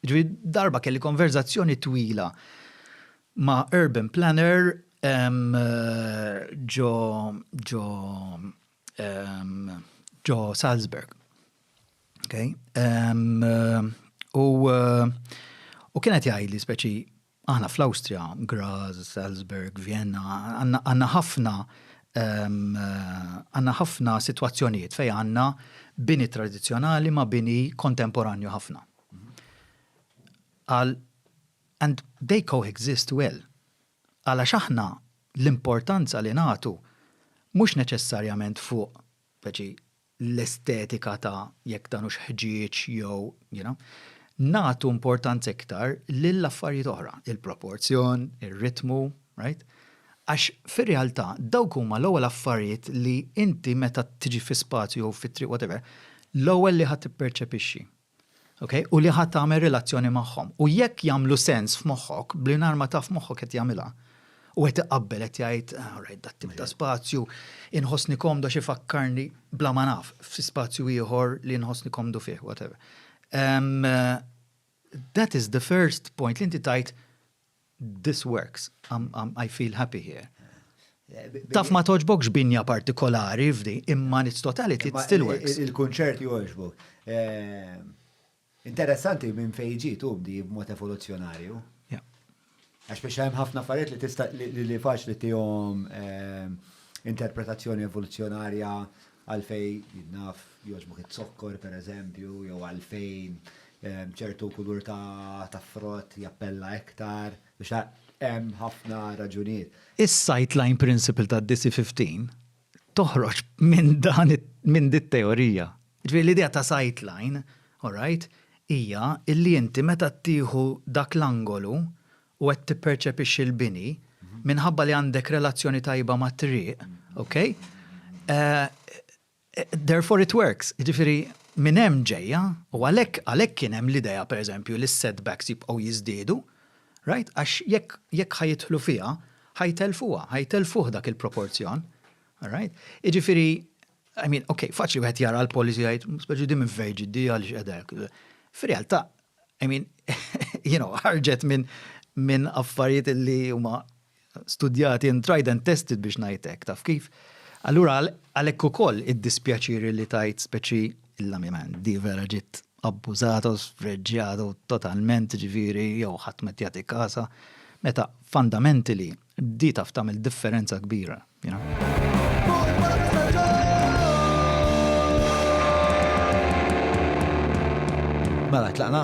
Ġifieri darba kelli konverżazzjoni twila ma' urban planner ġo ġo ġo Salzburg. U kien qed jgħidli speċi Aħna fl-Awstrija, Graz, Salzburg, Vienna, għandna ħafna għandna ħafna sitwazzjonijiet fejn għandna bini tradizzjonali ma' bini kontemporanju ħafna. Qal and they coexist well. Qal għax aħna l-importanza li nagħtu mhux neċessarjament fuq l-estetika ta' jekk dan hux ħġieġ jew, you know, nagħtu importanza iktar lil affarijiet oħra, il-proporzjon, ir-ritmu, right? Għax fir-realtà dawk huma l-ewwel affarijiet li inti meta tiġi fi spazju jew fi triq whatever, l-ewwel li ħa tipperċepixxi. Okay? U li ħa tagħmel relazzjoni magħhom. U jekk jagħmlu sens f'moħħok, blinhar ma taf moħħok qed jagħmilha. U qed iqabbel qed jgħid, ah, alright, dat tip ta' spazju, inħossni komdu xi fakkarni bla ma naf, f'si spazju ieħor li inħossni komdu fih, whatever. Um, that is the first point li inti tajt This works. I feel happy here. Taf ma toġbokx binja partikolari f'di, imma it's totality, it still works. Il-kunċert joġbok. Interessanti minn fejn ġiet hu b'di b'mod evoluzzjonarju. Għax biex hemm ħafna affarijiet li tista' li faċli tihom interpretazzjoni evoluzzjonarja għalfejn naf joġbok it-zokkor pereżempju jew għalfejn ċertu kulur ta' frott jappella iktar, biex hemm ħafna raġunijiet. Is-sightline principle tad-DC15 toħroġ minn dan minn din it-teorija. Jiġifieri l-idea ta' sightline, all right, hija li inti meta tieħu dak l-angolu u qed tipperċepixxi l-bini, minħabba li għandek relazzjoni tajba mat-triq, okay, Therefore it works, jiġifieri minn hemm ġejja u għalhekk għalhekk kien hemm l-idea pereżempju li s-setbacks jibqgħu jiżdiedu, right, għax jekk jekk ħa jidħlu fiha, ħa jtellfuha, ħa jtellfuh dak il-proporzjon, right. Jiġifieri, I mean, okay, faċli wieħed jara l-policy jgħid, speċi din minn fejn ġiet di għaliex qiegħda hekk. Fir-realtà, I mean, you know, ħarġet minn minn affarijiet li huma studjati and tried and tested biex ngħid hekk, taf kif? Allura għalhekk ukoll id-dispjaċiri li tajt speċi il-lamiment di vera ġiet abbużata u sfreġġjata totalment ġifieri jew ħadd met jagħti kasa meta fundamentally di taf tagħmel differenza kbira. You know? Mela, tlaqna.